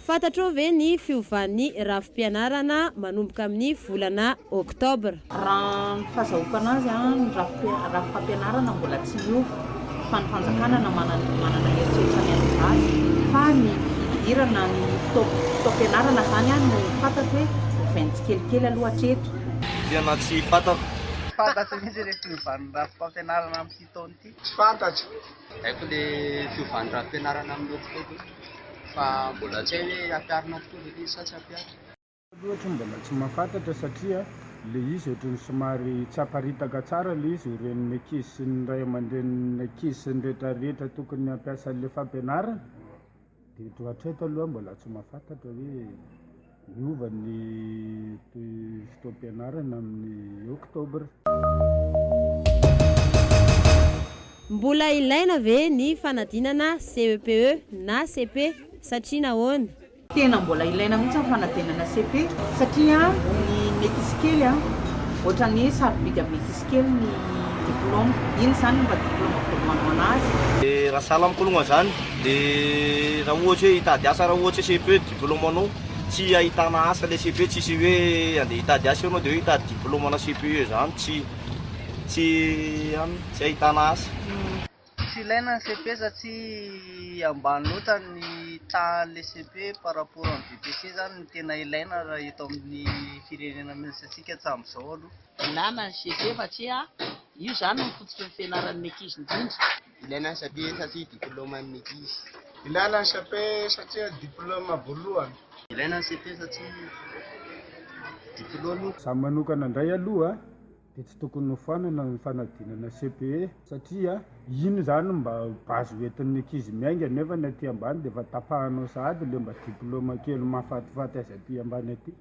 Fantatrao ve ny fiovan'ny rafi-pianarana manomboka amin'ny volana Oktobra? Raha ny fahazahoako anazy an, ny rafi-pampianarana mbola tsy miova fa ny fanjakana na manana heritreritra ny hanova azy fa ny fidirana ny fotoam-pianarana izany an no fantatro hoe ovainy tsikelikely aloha hatreto. Tena tsy fantako. Fantatro mihitsy ilay fiovan'ny rafi-pampianarana amin'ity taona ity? Tsy fantatro, tsy haiko le fiovan'ny rafi-pianarana amin'ny eritreritro fa mbola tsy hay hoe hampiharina tokoa ve le izy sa tsy hampiharina. Loatra mbola tsy mahafantatra satria le izy ohatran'ny somary tsy aparitaka tsara le izy ireny ny ankizy sy ny ray aman-drenin'ny ankizy sy ny retraretra tokony hampiasa an'le fampianarana. Eto hatreto aloha mbola tsy mahafantatra hoe miova ny fotoam-pianarana amin'ny Oktobra. Mbola ilaina ve ny fanadinana CEPE na CP satria nahoana? Tena mbola ilaina mihitsy ny fanadinana CP satria ny metisykely a, ohatrany hoe sarobidy amin'ny metisykely ny diploma, inona izany no mba diploma voalohany ho an'azy? Raha sahala amiko aloha zany Dia raha ohatra hoe hitady asa, raha ohatra hoe CEPE diploma anao, tsy ahitana asa ilay CEPE, tsisy hoe andeha hitady asa eo anao dia hoe hitady diploma ana CEPE izany tsy tsy an tsy ahitana asa. Tsy ilaina ny CEPE satria ambany loatra ny tahan'ilay CEPE par rapport amin'ny VPC izany no tena ilaina raha eto amin'ny firenena misy antsika hatramin'izao aloha. Ilana ny CEPE satria io izany no fototry ny fianaran'ny ankizy indrindra. Ilaina satria satria diplôma ny ankizy. Ilaina ny CEP satria diplôma voalohany. Ilaina ny CEP satria diplôma. Za manokana ndray aloha de tsy tokony hofanana ny fanadinana CEPE satria iny zany mba base hoentin'ny ankizy miainga nefa ny aty ambany de efa tapahanao sahady le mba diplôma kely mahafatifaty azy aty ambany aty.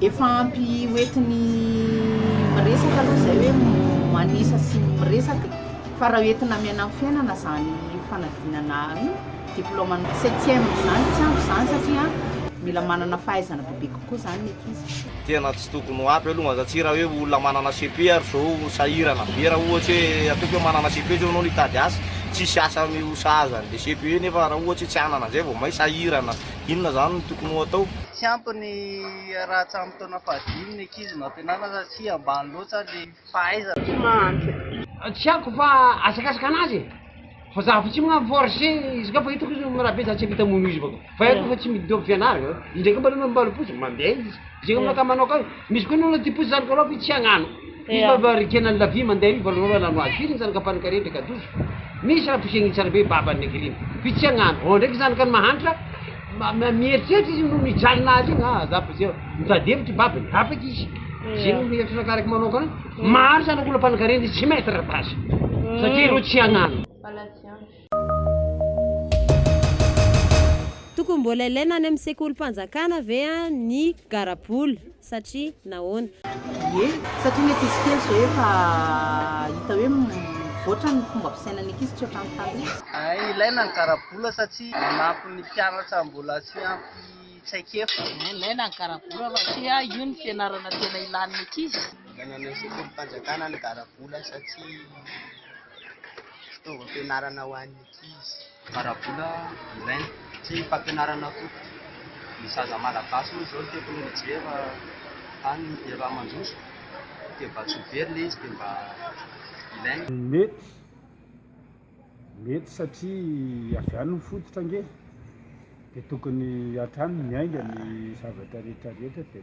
Efa ampy hoentiny miresaka aloha izay hoe manisa sy ny miresaka fa raha hoentina miaina amin'ny fiainana izany fanadinana diplôme ny septième izany tsy ampy izany satria mila manana fahaizana bebe kokoa izany ny ankizy. Tena tsy tokony ho ampy aloha satria raha hoe olona manana cepe ary izao sahirana be raha ohatra hoe ataoko hoe manana cepe izao ianao no hitady asa, tsy hisy asa mihosahaza an'ilay cepe nefa raha ohatra hoe tsy hanana an'izay vao may sahirana. Inona izany no tokony ho atao? Tsy ampy ny raha hatramin'ny taona fahadimy ny ankizy no ampianarina satria ambany loatra ny fahaizana. Tsy mahantra. Tsy haiko fa asakasaka anazy e! Fa za fa tsy magnano force izy ka fa hitako izy rabe za tsy ampita mono izy bako fa haiko fa tsy midi dobo fianarana, indraika mba aleo mba alopoziko mandeha izy. Zay olona ka manao kay, misy koa ny olona tia posy zany koroa fa tsy hagnano. Misy mba mba rikena ny lavie mandeha io valo ora lano azy, firy zany ka panikare ndray ka dozo. Misy raha posegny tsara be babany ny akeriny, fa tsy hagnano. Ao ndraiky zany ka ny mahantra, ma- mieritreritra izy no mijalina azy igny, ah za posy mitady hevitra i babany, afaka izy. Zay no hevitry anakahy raiky manokana, maro zany olona panikare ndry tsy mettre basy, satria ireo tsy hagnano. Tokony mbola ilaina any amin'ny sekolim-panjakana ve ny garabola? Satria nahoana? Ie, satria ny ankizy kely izao efa hita hoe mivoatra ny fomba fisainan'ny ankizy, tsy ohatran'ny taloha. Ie, ilaina ny garabola satria manampy ny mpianatra mbola tsy ampy traikefa. Ie, ilaina ny garabola satria io no fianarana tena ilan'ny ankizy. Ilaina any amin'ny sekolim-panjakana ny garabola satria. fitaovam-pianarana ho an'ny ankizy. Ara-bola ilaina sy fampianarana koa. Ny zaza malagasy moa izao ny teknolojia efa tany efa mandroso dia mba tsy ho very ilay izy dia mba ilaina. Mety, mety satria avy any ny fototra ange dia tokony hatrany miainga ny zavatra rehetra rehetra dia.